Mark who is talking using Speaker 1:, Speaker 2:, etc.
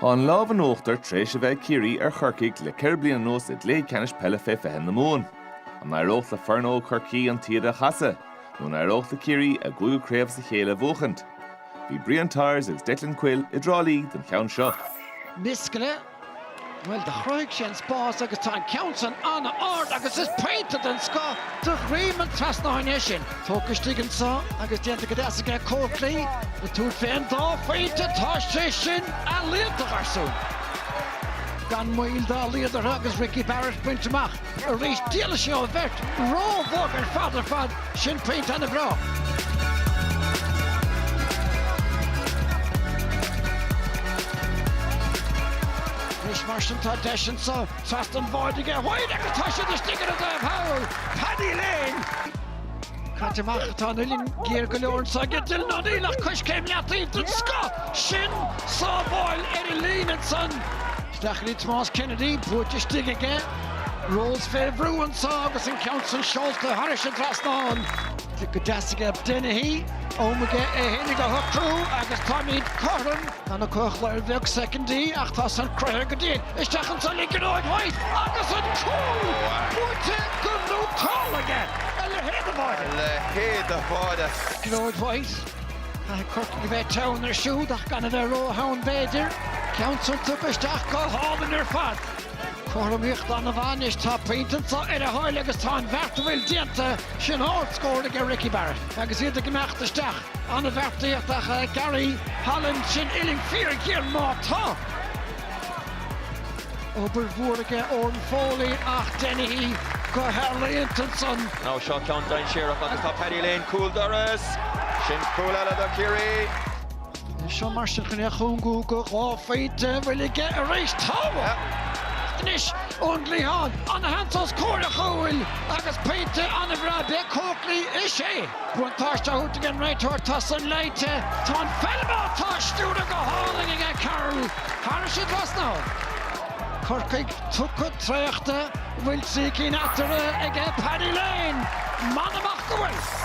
Speaker 1: Tá an lámh in uachtar tar éis a bheith ag Ciarraí ar Chorcaigh le ceithre bliana anuas i gcluiche ceannais peile fé fiche na Mumhan. An n-éireodh le foireann óg Chorcaí an taoide a chasadh? Nó an n-éireodh le Ciarraí a gcúigiú craobh as a chéile a bhuachaint? Bhí Brian Tyers agus Declan Quill i dTrá Lí don cheann seo. Miskella.
Speaker 2: Bhuel, do chruthaigh sé an spás agus tá an ceann san an-ard agus is pointe den scoth de dhroim an trasnáin é sin. Tógtha istigh anseo agus déanta go deas aige Coakley ag tabhairt fé an dá phointe, tá sé sin iontach ar siúl. Gan mhoill, dá leithéid orthu agus Ricky Barrett ag baint amach. Arís, d'éalaigh sé ón mbeirt, ró-bhog ar fad ar fad, sin pointe ana-bhreá. Anois mar sin tá deis anseo trasna an bháid aige, White agus tá siad istigh ar an dtaobh thall, Paddy Lane! Caite amach a tá an uillinn, géar go leor anseo aige, Dylan O'Neill ach coiscéim leataobh den scoth, sin sábháil ar an líne san. Stacey Tomás Kennedy buailte istigh aige, Rose fé bhrú anseo agus an ceann san seolta thairis an trasnán. go deas aige Dennehy, am aige é fhéinig a shocrú agus táimid cothrom. Tá an clog ar bheagán soicindí ach tá san cruinn go dtí isteach ansan ag Gearóid White agus an cúl buaite go néata aige. A leithéid de bháide! A leithéid de
Speaker 3: bháide! Gearóid White.
Speaker 2: Caithfidh Curtin a bheith teann ar siúd ach gan a bheith ró-theann b'fhéidir. An ceann san tugtha isteach go hálainn ar fad. Cothromaíocht an-mhaith anois. Tá pointe anseo ar a thoil agus tá an bheart, an bhfuil, déanta sin ard scóir aige Ricky Barrett agus iad ag imeacht isteach. An-bheartaíocht ach Gary Holland sin uillinn fíor ghéar má tá. Obair mhór aige Owen Foley ach Dennehy go healaíonta ansan. Now seo
Speaker 3: ceann dainséarach agus tá Paddy Lane cúl dorais. Sin cúl eile do Chiarraí. Anois seo
Speaker 2: mar sin chun é a chúngú go dhá phointe an bhfuil aige arís. Tá. Tá anois ón gcliathán. Ana-sheans os comhair a chúil agus pointe an-bhreá by Coakley. Is é buntáiste tugtha ag an réiteoir, tá san léite. Tá an pheil ann. Tá a stiúradh go hálainn aige Carroll. Thairis an trasnán. Corcaigh, tugtha traochta, bhfuil trí cinn eatarthu aige Paddy Lane, amach is amach go bhfuil!